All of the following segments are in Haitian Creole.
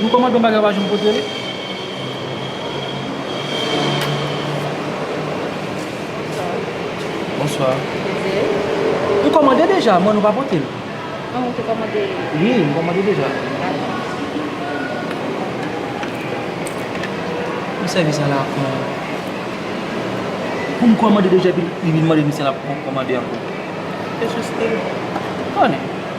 Nou komante yon bagay ou pa janm pote li. Bonsoir. Nou komante deja m'en nou pa pote li. An nou te komante. Wi nou komante deja. Mwen sèvi sa la pou mwen. Pou m komante deja epi li vin mande m si lap komande anko. Se sou stil. Anne.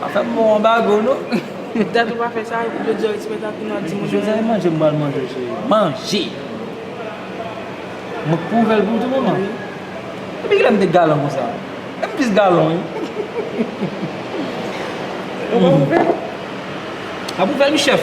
Pa fè m bon anbago non. Dat ou pa fè sa, yo diw respè dat ou nan di moun. José e manje m bal manje cheri. Manje! Mwen kou ouvè l pou ou tou manman? Wi. Depi kilè m te galan konsa? E m plis galan wi. Ou pa ouvè l? Map ouvè l wi chèf.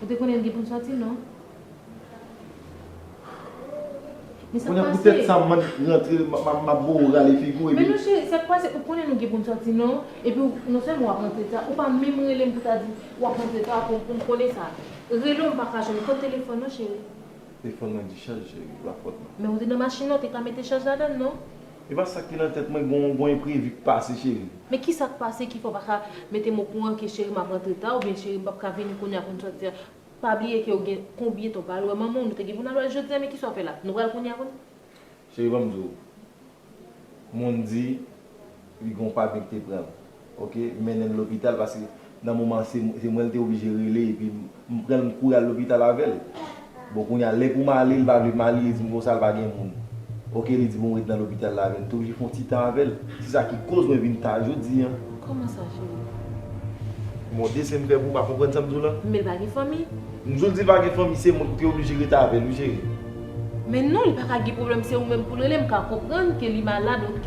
Ou te konnen l gen pou l sòti non. Men sa k pase. Kounye a pou tèt sa m rantre m ap bo ou rale figi w epi. Men mesye sa k pase ou konnen nou gen pou n sòti non epi w non sèlman w ap rantre ta ou pa menm rele m pou ta di w ap rantre ta pou m konnen sa. Rele w m pa ka jwenn ou kot telefòn ou cheri. Telefòn mwen dichaj cheri lafòt la. Men ou te nan machin lan ou te ka mete chaj ladan l non. Epa sak ki nan tèt mwen gon enprevi k pase cheri. Men kisa k pase ki fè w pa ka mete m o kouran ke cheri m ap rantre ta oubyen cheri m pap ka vini kounya pou n sòti a pa bliye ke ou gen konbyen tan ou pa al wè manman w nou te gen pou n al wè l jodi a men kisa w fè la nou pral kounya pou n. Cheri banm di w moun di li gon pa byen ki te pran l. Ok mennen l lopital paske nan moman an se mwen l te oblije rele epi m pran l m kouri al lopital avè l. Bon kounya lè pou m ale l pa vle m ale li di m konsa l pa gen moun. Ok li di bon ret nan lopital la avè l m te oblije fon ti tan avè l. Se sa ki koz mwen vin ta jodi an. Kòman sa cheri? Bon desen m fè pou w pa konprann sa m di w lan? Men l pa gen fanmi? M di w li pa gen fanmi se mwen ki te oblije ret avè l wi cheri. Men non li paka gen problèm se ou menm poul rele m ka konprann ke li malad ok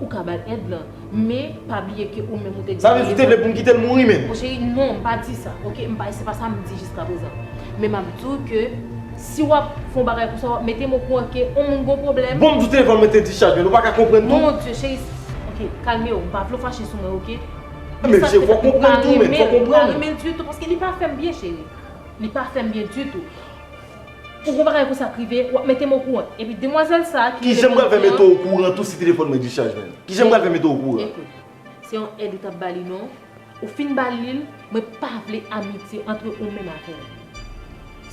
ou ka bal èd lan men pa bliye ke ou menm ou te di Sa vle di ou te vle pou m kite l mouri menm? Mon cheri non m pa di sa ok m pa se pa sa m di jiska prezan men map di w ke si wap fè yon bagay konsa wap mete m okouran ke yon moun gon problèm Bon m di w telefòn mwen te dischaj men ou paka konprann tou? Mon Dieu cheri ok kalme w m pa vle w fache sou mwen ok Men cheri fòk ou konprann tou men fòk ou konprann. Mwen pa renmen l ditou paske li pa fè m byen cheri li pa fè m byen ditou. Pou gwo bagay konsa t rive wap mete m okouran epi demwazèl sa ki rele Kijan m pral fè mete w okouran tou si telefòn mwen dischaj menm kijan m pral fè mete w okouran. Ekout se yon èd ou tap bali non ou fin bali l mwen pa vle amitye antre ou menm avè l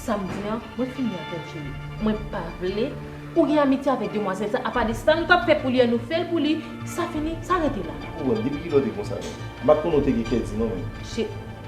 sa m di an mwen fini avè l cheri mwen pa vle ou gen amitye avè demwazèl sa apa de sa nou tap fè pou li an nou fè l pou li sa fini sa rete la. Okouran depi kilè w te konsa menm m pat konnen w te gen kè di non menm.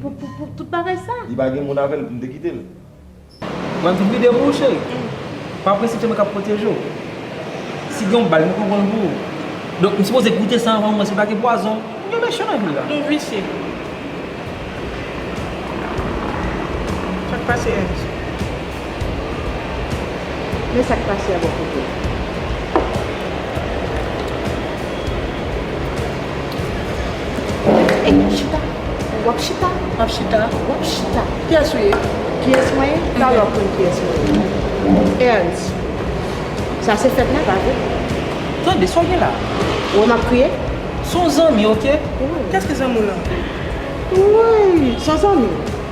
Pou tout bagay sa. Li pa gen moun avèl poum te kitel. Mwen tou vide pou ou cheri. Pa prese cheri mwen kap pwoteje ou. Si gen yon bal mwen pran konl pou ou. Donk m sipoze goute sa anvan ou wè si pa gen pwazon. Moun yo mechan anpil la. Nou visye. Sak pase Ernst. Men sak pase a bò kote m. Ey ey chita wap chita. Map chita. Wap chita. Kiyès ou ye? Kiyès mwen ye? Talè wap konn kiyès mwen ye. Ernst. Sa se fèt mwen pa vre? Tande sa w gen la? Ou wè map kriye? Son zanmi ok. Kiyès ki zanmi w lan? Wouyy. Son zanmi?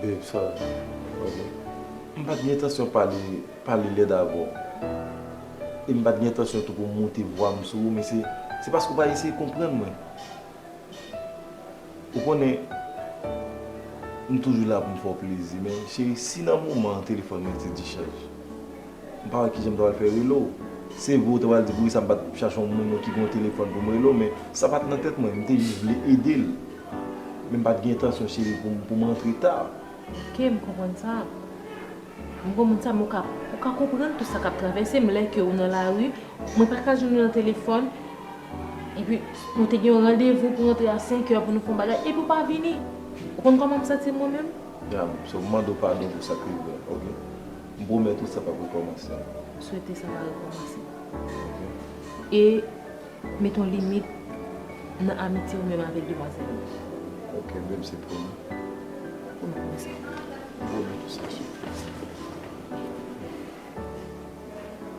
Babe sorry ok m pat gen entansyon pale pale lèd avè w e m pat gen entansyon tou pou m moute vwa m sou ou men se se paske w pa eseye konprann mwen ou konnen m toujou la pou m fè w plezi men cheri si nan moman an telefòn mwen te dichaj. M pa wè kijan m ta pral fè rele w. Se vre ou te pral di poukisa m pa t chache yon moun ki gen yon telefòn pou m rele w men sa pa t nan tèt mwen. M te jis vle ede l. Men m pa t gen entansyon cheri pou m rantre ta. Ok, m konprann sa. M konprann sa men ou ka konprann tou sa k ap travèse m lè ke ou nan lari, mwen pa ka jwenn ou nan telefòn epi nou te gen yon randevou pou rantre a senkè pou nou fè yon bagay epi ou pa vini. Ou konn kòman m santi m mwen menm? Dam, se w m mande w padon pou sa k rive w la ok. M pwomèt ou sa pap rekòmanse. M swete sa pa rekòmanse. Ok. E met yon limit nan amitye ou menm avèk demwazèl yo. Ok beb se pwomi. Pwomet mwen sa. M pwomèt ou sa sou kris.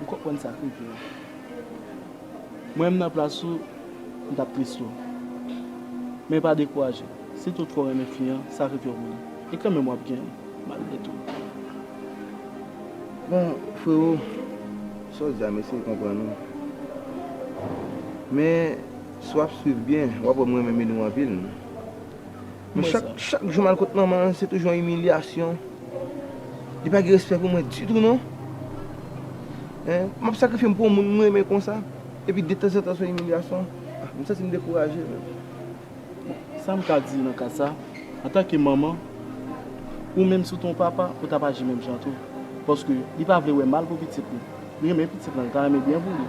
M konprann sa Chris di la. Mwen menm nan plas ou m tap tris tou. Men pa dekouraje, sitou w t ko renmen fi an sakrifye w pou li. E kanmenm wap gen l malgre tou. Bon frero, sa w di a m eseye konprann ou. Men si wap swiv byen wap wè m renmen Milou anpil. Men chak chak jou mal kot manman an se toujou yon imilyasyon. Li pa gen respè pou mwen ditou non. Hein, map sakrifye m pou yon moun m renmen konsa, epi detanzantan se yon imilyasyon. Ah, m santi m dekouraje menm. Bon, sa m ka di nan ka sa, antanke manman, ou menm si w te yon papa, ou t ap aji menm jan tou. Paske li pa vle wè mal pou pitit li. Li renmen pitit lan li ta renmen byen pou li.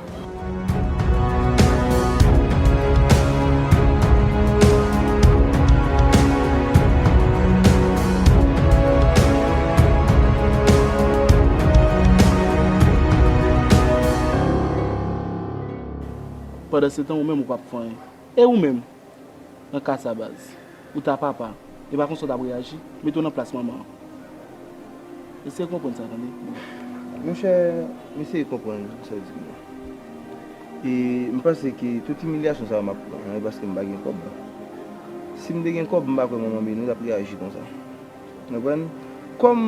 Pandansetan ou menm ou pap fè anyen. E ou menm? Nan ka sa baz. Ou ta papa. E pa konsa w tap reyaji. Mete w nan plas manman an. Eseye konprann sa tande. Monchè, m eseye konprann tout sa w di m nan. E m panse ke tout imilyasyon sa yo m ap pran an e paske m pa gen kòb. Si m te gen kòb m pa kwè manman Menou tap reyaji konsa. Ou konprann? Kòm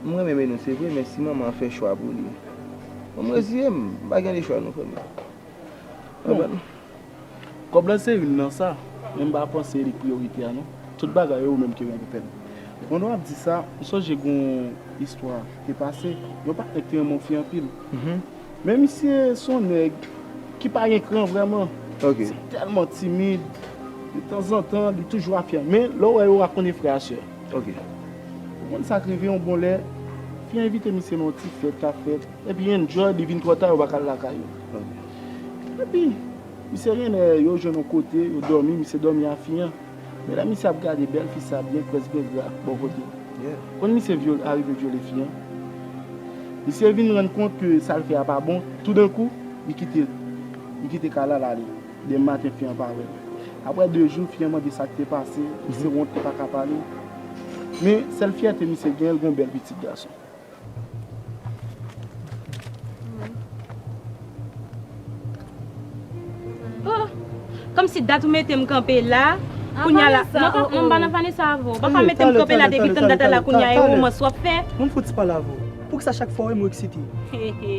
m renmen Menou se vre men si manman an fè chwa pou li. Fò m reziye m. M pa gen lechwa non frè m yo. Ou konprann? Kob la se yn nan sa, men m pa panse li priyorite a non. Tout bagay yo ou menm ki règle pèn. Pandan wap di sa, m sonje gon istwa ki te pase, yon patnè k te renmen yon fi anpil. Men misye son nèg ki pa gen kran vrèman. Ok. Se tèlman timid, de tanzantan li toujou a fyè. Men lè w wè yo wap konnen frè a sè. Ok. Ou konn sak rive yon bon lè, fi a envite misye nan yon ti fèt kap fèt, epi enjoy li vin twò ta yo pa ka al lakay yo. Ok. Epi, misye gen lè yo jwenn yon kote, yo dòmi, misye dòmi a fi an. Men lè misye ap gade bèl fi sa byen près gen dra bò kote l. Kon misye arive vyole fi an. Misye vin rann kont ke sa l fè a pa bon, toudenkou, li kite l. Li kite kay la, l ale. Demen maten fi an pa wè l. Aprè de jou, fi an mande sa k te pase, misye wont li pa ka pale. Men, sèl fyète misye gen, l gen yon bèl pitit gason. Kòmsi dat ou mete m kanpe la Kounya la Vanessa oh oh Non m pa nan Vanessa avè w Ou pa ka mete m kanpe la depi tann dat a la Kounya e womans w ap fè Ou m fout pale avè w Poukisa chak fwa w wè m ou eksite Hehe.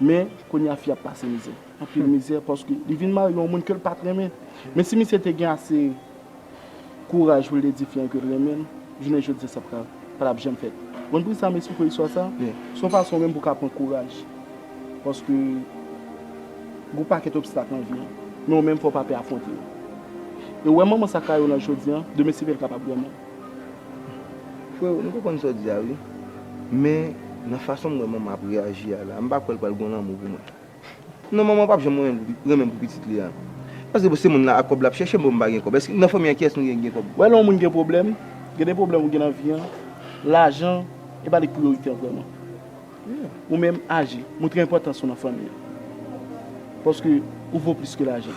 Men, kounye a fi a ap pase mizè. Anpil mizè paske li vin marye yon moun ke l pa t renmen. Men si misye te gen ase kouraj pou l te di fi an ke l renmen l, jounen jodi a sa pa t ap janm fèt. Ou konprann sa m esplike w istwa sa? Se yon fason menm pou w ka pran kouraj. Paske gen yon pakèt obstak nan vi an. Men ou menm fò w pa pè afwonte yo. E ou wè manman sa ka ye w nan jodi a, demen se pa l, l kapab renmen w. Freo m konprann sa w di a wi men nan fason m wè manman ap reyaji a la m pa kwè l pral gon lanmou pou mwen non manman pap janm renmen pou pitit li a paske bon se moun la ak kòb lap chèche m bon m pa gen kòb èske nan fanmi an kiyès nou gen ki gen kòb. Wè lè yon moun gen pwoblèm gen de pwoblèm ou gen nan vi an lajan e pa li k priyorite an vrèman ou menm aji moutre enpòtans ou nan fanmi an paske ou vo plis ke lajan.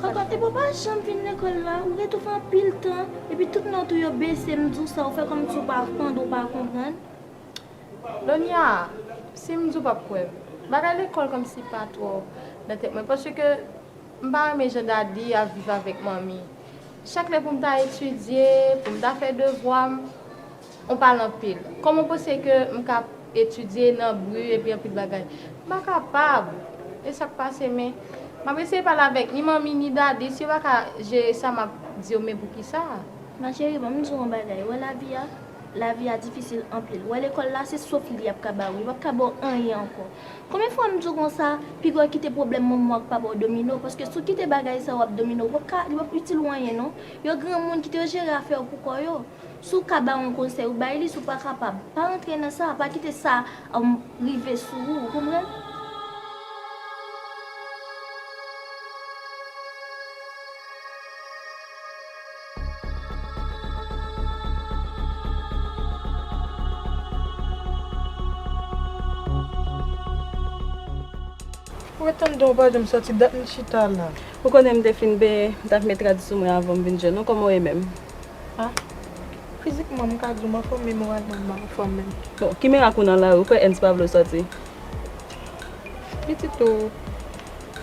Koko, epi w pa janm vin lekòl la, ou rete ou fè anpil tan, epi tout nòt ou yo bese, m di w sa ou fè kòmsi w pa tande ou pa konprann. Donya, si m di w pap kwè m. Bagay lekòl kòmsi pa twò nan tèt mwen paske m pa renmen jan Dadi ap viv avèk Manmi. Chak lè pou m ta etidye, pou m ta fè devwa m. On pale anpil. Kòman w panse ke m ka etidye nan bri epi anpil bagay? M pa kapab! E sa k pase? Men, m ap eseye pale avèk ni manmi ni dadi. Si yo pa ka jere sa, m ap di yo, men poukisa? Ma cheri, ban m di w on bagay. Ou wè lavi a? Lavi a difisil anpil. Ou wè lekòl la? Se sof li y ap ka ba ou. Yo p ap ka ba w anyen ankò. Konbyen fwa m di w konsa, pi gò kite pwoblèm manman w ak papa w domine w, paske si w kite bagay sa yo ap domine w, yo p ap ka, yo p ap itil ou anyen non. Yo granmoun, kite yo jere afè yo pou kò yo. Si w ka bay yon konsèy, ou bay li. Si w pa kapab, pa antre nan sa. Pa kite sa rive sou ou. Ou konprann? Ou ret anndan, ou pa janm soti. Dat m chita la. Ou konnen m te fin benyen, m ta k met rad sou mwen avan m vin jwenn ou. Kòman w ye menm? A. Fizikman, m ka di w m anfòm men moralman m pa anfòm menm. Bon, ki mirak ou nan lari, ou kwè Ernst pa vle w sòti? Pitit ou,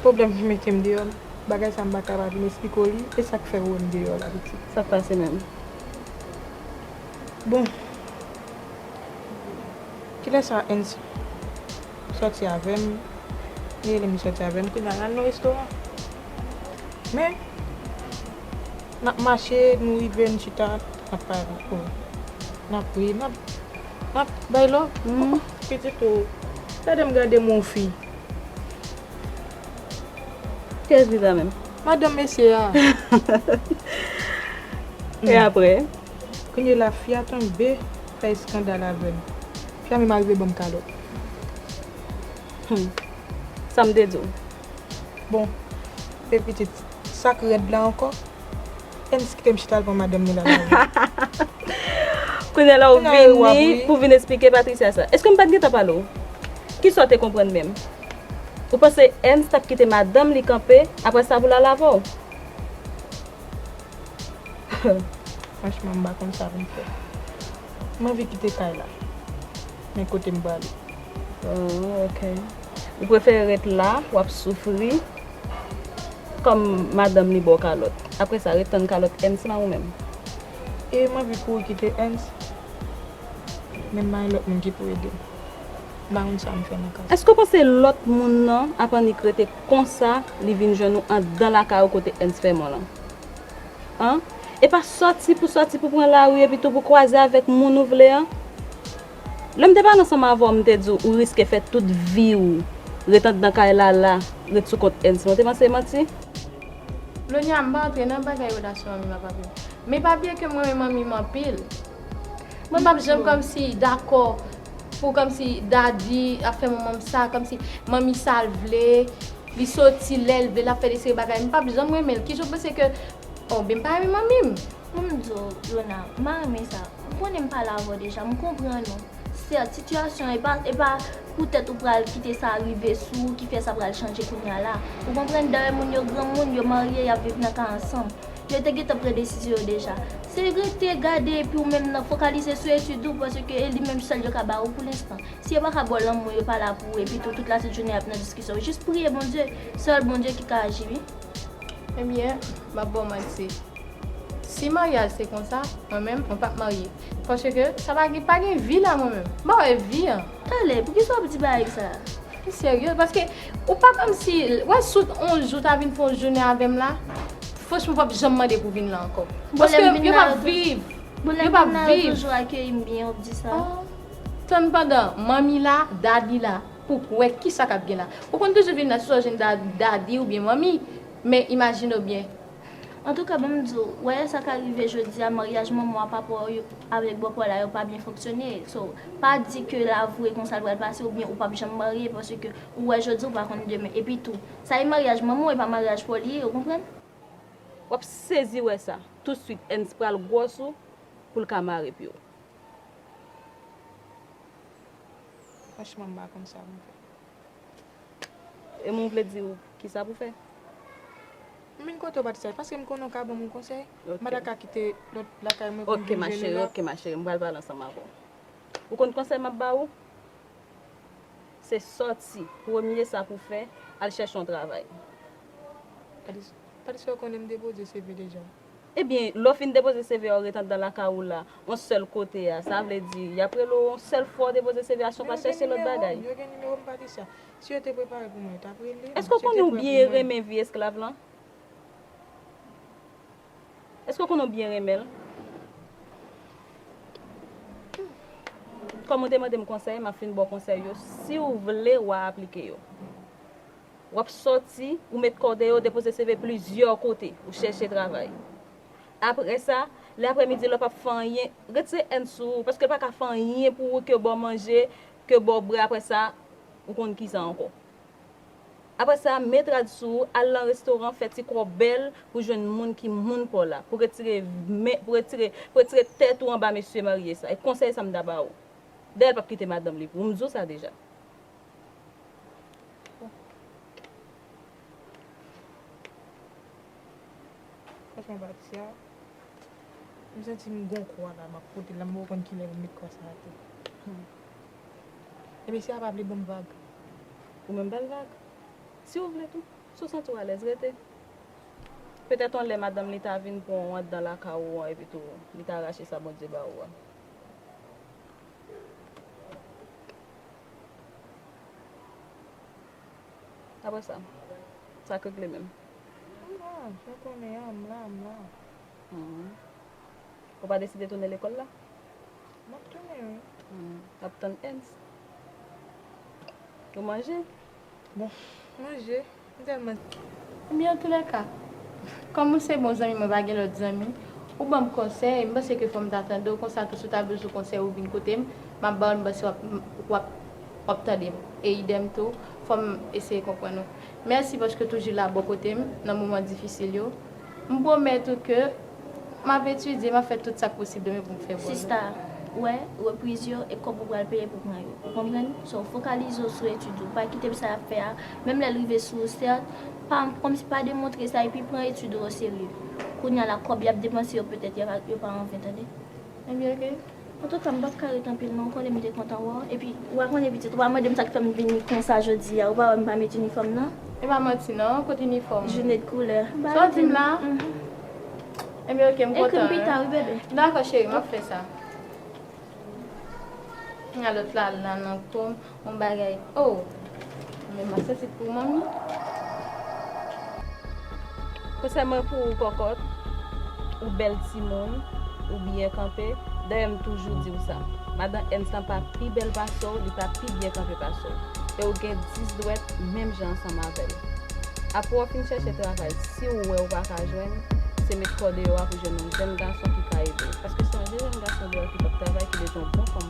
pwoblèm ki mete m deyò, bagay sa m pa ka pa vin esplike w li, e sa k fè ou wè m deyò la pitit? Sa k pase menm? Bon, kilè sa Ernst sòti avè m, li rele m li sòti avè m, kounye a l al nan restoran. Men, n ap mache, nou rive, nou chita, n ap pale. O, n ap ri, n ap bay lòv. O, pitit o, gade m gade m wè yon fi. Kiyès li ta menm? Madanm mesye a. E apre? Kounye la, fi a tonbe fè eskandal avè m. Fi a menm arive ban m kalòt. Sa m te di w. Bon, se pitit sa k rèd la ankò? Ernst kite m chita al pran madanm ni lala vini. Kounela w vini pou vin esplike Patricia sa? Èske m pa t gentan pale w? Kisa w te konprann menm? Ou panse Ernst t ap kite madanm li kanpe apre sa pou l al avè w? Franchman, m pa konn sa pou m fè. M anvi kite kay la. Men kote m prale. Ooh ok. Ou prefere ret la wap soufri kom madanm li baw kalot. Apre sa ret tann kalot Ernst lan ou menm. E m anvi kouri kite Ernst. Men m bay lot moun ki pou edem. M pa konn sam fè nan ka sa. Eske w panse lot moun lan ap annik rete konsa li vin jwenn ou andan lakay ou kote Ernst fè mò lan? An? E pa sòti pou sòti pou pran lari epitou pou kwaze avèk moun ou vle an? Lè m te pale ansanm avè w, m te di w ou riske fè tout vi w ret anndan kay Lala, ret sou kont Ernst men w te panse e manti? Lonya, m pa antre nan bagay relasyon anmim ak papi m. Men papi e ke m renmen manmim anpil. Mwen p ap janm kòmsi dakò pou kòmsi Dadi ap fè manman m sa, kòmsi manmi sa l vle. Li soti lèl vle lap fè de seri bagay m pap janm renmenl kijan w panse ke oh byn m pa renmen manmi m. Pou m di w Luna m pa renmen sa ou konnen m pale avè w deja m konprann ou sèt sitiyasyon an epa epa poutèt ou pral kite sa rive sou ou ki fè sa pral chanje kounya la ou konprann dayè moun yo granmoun yo marye yap viv nan ka ansanm yo te gentan pran desizyon yo deja se rete gade epi ou menm nan fokalize sou etid ou paske e li menm sèl yo ka ba ou pou lenstan. Si yo paka bò lanmou yo pa la pou ou epitou tout la tout jounen yap nan diskisyon jis priye Bondye sèl Bondye ki ka aji wi. Ebyen map baw manti si maryaj se konsa mwen menm mwen pap marye paske sa pa gen pa gen vi la mwen menm m pa wè vi an. Tale, poukisa wap di bagay sa? Ou serye paske ou pa komsi wè sou on jou ta vin fè on jounen avèm la franchman ou pap janm mande pou vin la ankò paske yo pap viv yo pap viv. Bon lèm vin la yo toujou akeyim byen wap di sa. Tann pandan manmi la, daddy la pou k wè kisa kap gen la. Ou konn toujou vin nan ti sa w jwenn daddy oubyen manmi, men imajine w byen. Antouka banm di w, wè sa ka rive jodi a maryaj manman w a papa w avèk bòpè w la yo pa byen fonksyone, so pa di ke l avwe konsa l pral pase oubyen ou pap janm marye paske ou wè jodi ou pa konn demen. Epi tou, sa e maryaj manman w e pa maryaj pa w li ye ou konprann. Wap sezi wè sa, tout swit Ernst pral gwòs ou pou l ka mare pied w. Franchman m pa konn sa pou m fè. E mwen vle di ou kisa pou fè? M vin kote w pa di sa, paske m konnen w ka ban m yon konsèy. M pa ta ka kite lòt lakay mwen pou m vin jwenn ou la. Ok ma cheri, m pral pale ansanm avè w. Ou konn konsèy m ap ba ou? Se sòti, premye sa pou w fè, al chèche yon travay. Padi sa ou konnen m depoze CV deja? Ebyen, lè w fin depoze CV a ou ret anndan lakay ou la, on sèl kote a, sa vle di, y ap rele w on sèl fwa ou depoze CV a san w pa chèche lòt bagay. Men yo gen nimewo m, yo gen nimewo m Patricia. Si yo te prepare pou mwen, yo t ap rele m. Èske w konnen ou byen renmen vi esklav lan? Èske w konnen ou byen renmen l? Kòm ou te mande m konsèy, m ap fin ba w konsèy yo, si w vle w a aplike yo. W ap soti, ou met kòde yo, depoze CV plizyè kote, ou chèche travay. Apre sa, lè aprèmidi la w p ap fè anyen, retire èn sou ou, paske l pa ka fè anyen pou ou ke ba w manje, ke ba w bwè apre sa, ou konn kisa ankò. Apre sa, met rad sou ou, al lan restoran, fè ti kò bèl pou jwenn moun ki moun pa w la, pou retire men, pou retire, pou retire tèt ou anba mesye marye sa. E konsèy sa m ta ba ou. Dayè l p ap kite madanm li pou ou, m di w sa deja. Franchman pati a, m santi m gon kwa la m ap pote l la m poko konn kilè pou m met kwa sa ate. Ebyen si a pa vle ban m vag. Ou menm ba l vag. Si ou vle tou. Si ou santi w alèz rete. Petèt yon lè madanm li ta vin pran w anndan lakay ou an epitou li ta rache sa Bondye ba ou a. Apre sa, sa k regle menm? M la, jan w konnen an, m la, m la. Ou pa deside tounen lekòl la? M ap tounen wi. Ou ap tann Ernst? Ou manje? Bon, manje, m tèlman. Ebyen antoulèka, kòm ou se bon zanmi mwen pa gen lòt zanmi, ou banm konsèy, m panse ke fò m ta tande w konsa tou si w ta bezwen konsèy ou vin kote m, m ap ba w l m panse w ap w ap w ap tande m e idèm tou fò m eseye konprann ou. Mèsi paske w toujou la bò kote m nan moman difisil yo. M pwomèt ou ke m ap etidye, m ap fè tout sa k posib de mwen pou m fè bon nòt. Sista, wè, repriz yo, e kòb ou pral peye pou pran yo. Ou konprann? So, fokalize w sou etid ou. Pa kite sa y ap fè a, menm lè l rive sou ou, sèt, pa, kòmsi pa demontre sa, epi pran etid ou oserye. Kounye a la, kòb y ap depanse yo, petèt y ap, yo pa anven, tande. Ebyen, ok. Antouka m pap ka ret anpil non ou konnen m te kontan wè w epi ou pa konnen pitit ou pa mande m sa k fè m vini konsa jodi a ou pa wè m pa met inifòm nan. E pa manti non kot inifòm ou. June de koulè. Sa w di m la? Enben ok m kontan. Ekri m pita wi bebe. Dakò cheri m ap fè sa. A lòt la al nan kò m. Bon bagay oh men mwen santi pou manmi. Konsèy mwen pou ou kòkòt, ou bèl timoun, ou byen kanpe, dayè m toujou di w sa, madan Èns lan pa pi bèl pase w, li pa pi byen kanpe pase w, e w gen 10 dwèt menm jan ansanm avè l. Apre w fin chèche travay, si w wè w pa ka jwenn, se met kò deyò a pou jwenn yon jèn gason ki ka ede w, paske se yon jèn gason deyò ki p ap travay ki bezwen yon bon fanm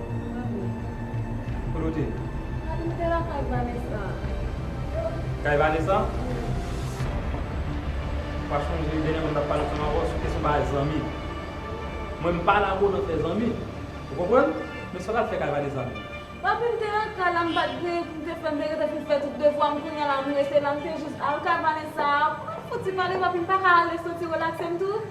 Kote w te ye? M te lakay Vanessa. Kay Vanessa? Ou pa chonje dènyè mwen t ap pale ak ou ankò sou kesyon bagay zanmi? Mwen m pa la pou nan fè zanmi. Ou konprann? Men sa w t al fè kay Vanessa menm? Papi m te lakay la, m pa t griye pou m te fè, m te rete pou m fè tout devwa m. Kounya la m rete la, m te jis al kay Vanessa. Fouti pale papi m pa ka ale santi relakse m tou?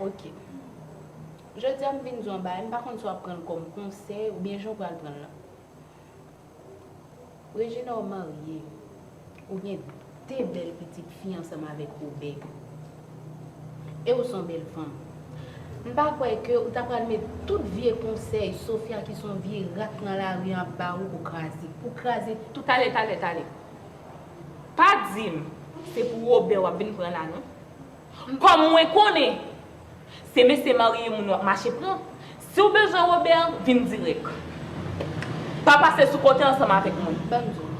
Ok. Jodi a m vin di w yon bagay, m pa konn si w ap pran l kòm konsèy oubyen jan w pral pran l lan. Regina ou marye, ou gen 2 bèl pitit fi ansanm avèk Robè. E ou s on bèl fanm. M pa kwè ke ou ta pral met tout vye konsèy Sofia ki s on vye rat nan lari an ap ba ou pou kraze. Pou kraze tout Talè, talè, talè. Pa di m se pou Robè w ap vin pran la non. Kòm mwen konnen se mesye marye moun wap mache pran, siw bezwen Robert vin dirèk. Pa pase sou konte ansanm avèk mwen. Banm diw.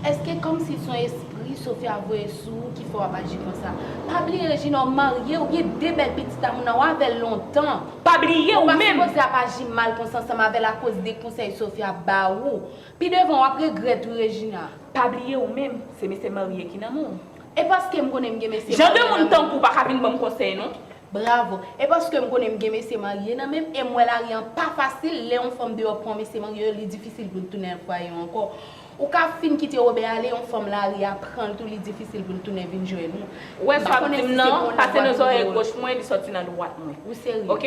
Eske kòmsi son espri Sofia voye sou ou ki fè wap aji konsa. Pa bliye Regina ou marye ou gen 2 bèl pitit a moun an ou avèl lontan. Pa bliye ou menm. Ou pa sipoze ap aji mal konsa ansanm avèl akoz de konsèy Sofia ap ba ou. Pi devan wap regrèt wi Regina. Pa bliye ou menm se mesye marye ki nan menw. E paskem konnen m gen mesye marye nan menm. Jan de moun tankouw pa ka vin banm konsèy non. Bravo. E paskem konnen m gen mesye marye nan menm em wè lari an pa fasil lè yon fanm deyò pran mesye marye li difisil poul tounen al fwaye yo ankò. Ou ka fin kite Robert ale yon fanm lari a pranl tou li difisil poul tounen vin jwenn ou. Ou wè sa wap dim nan pase nan zòrèy goch mwen li sòti nan dwat mwen. Ou serye. Ok.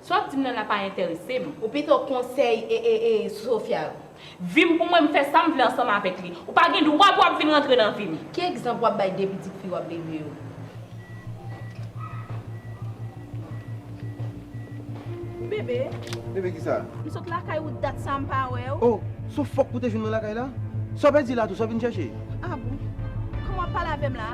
Sa wap dim nan la pa entèresem. Ou pito konsèy Sophia yo. Vim pou mwen m fè sam vle ansanm avèk li. Ou pa gen dwa pou ap vin rantre nan vim. Ki egzanp wap bay de pitit fi wap leve yo. Bebe. Bebe kisa? M sot lakay ou dat sa m pa wèw. Oh so fok ou te jwenn mwen lakay la? Sa w pèdi la tou sa w vin chèche? Ah bon. Kòman wap pale avèm la?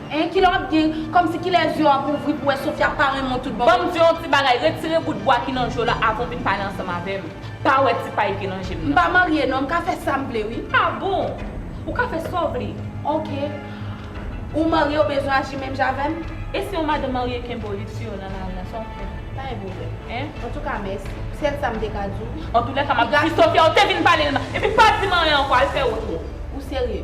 Hein kilè wap gen kòmsi kilè zye w ap ouvri pou wè Sofia pa renmen w tout bon. Banm diw yon ti bagay retire bout bwa ki nan je w la avan w vin pale ansanm avèm pa wè ti pay ki nan jem nan. M pa marye non m ka fè sam vle wi. Ah bon! Ou ka fè sa w vle. Ok Ou marye ou bezwen aji menm jan avèm? E si yon madan marye kenbe w li tiye w nan lari a sa wap fè? Pa gen pwoblèm. Hein? Antouka mèsi. Sèl sa m te ka di w. Antoulèka map di Sofia ou te vin pale l mal epi pa di m anyen ankò al fè wotro. Ou serye?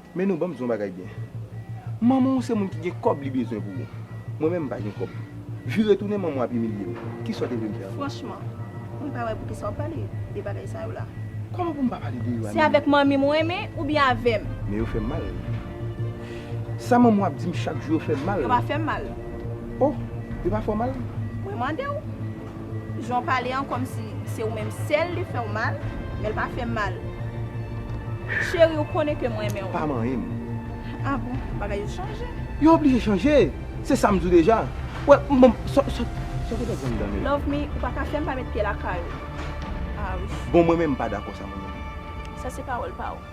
Men nou banm di yon bagay byen. Manman w se moun ki gen kòb li bezwen pou ou. Mwen menm m pa gen kòb. Vire tounen manman w ap imilye w. Kisa w te vle m fè avè w? Franchman, mwen pa wè pou kisa w pale de bagay sa yo la. Kòman pou m pa pale de yo a Nini? Se avèk manmi m ou renmen oubyen avè m? Men yo fè m mal. Sa manman w ap di m chak jou yo fè m mal. Yo pa fè m mal. Oh! Yo pa fè w mal? Mwen mande w. Jan w pale an kòmsi se ou menm sèl li fè w mal, men l pa fè m mal. Cheri ou konnen ke m renmen w. Pa manyen m. Ah bon, bagay yo chanje. Yo oblije chanje, se sa m di w deja. Wè, bon, sa w te fè zanmi dam yo? Love me, ou pa ka fè m pa met pye lakay ou. Ah wi. Bon mwen menm m pa dakò sa mwen menm. Sa se pawòl pa w.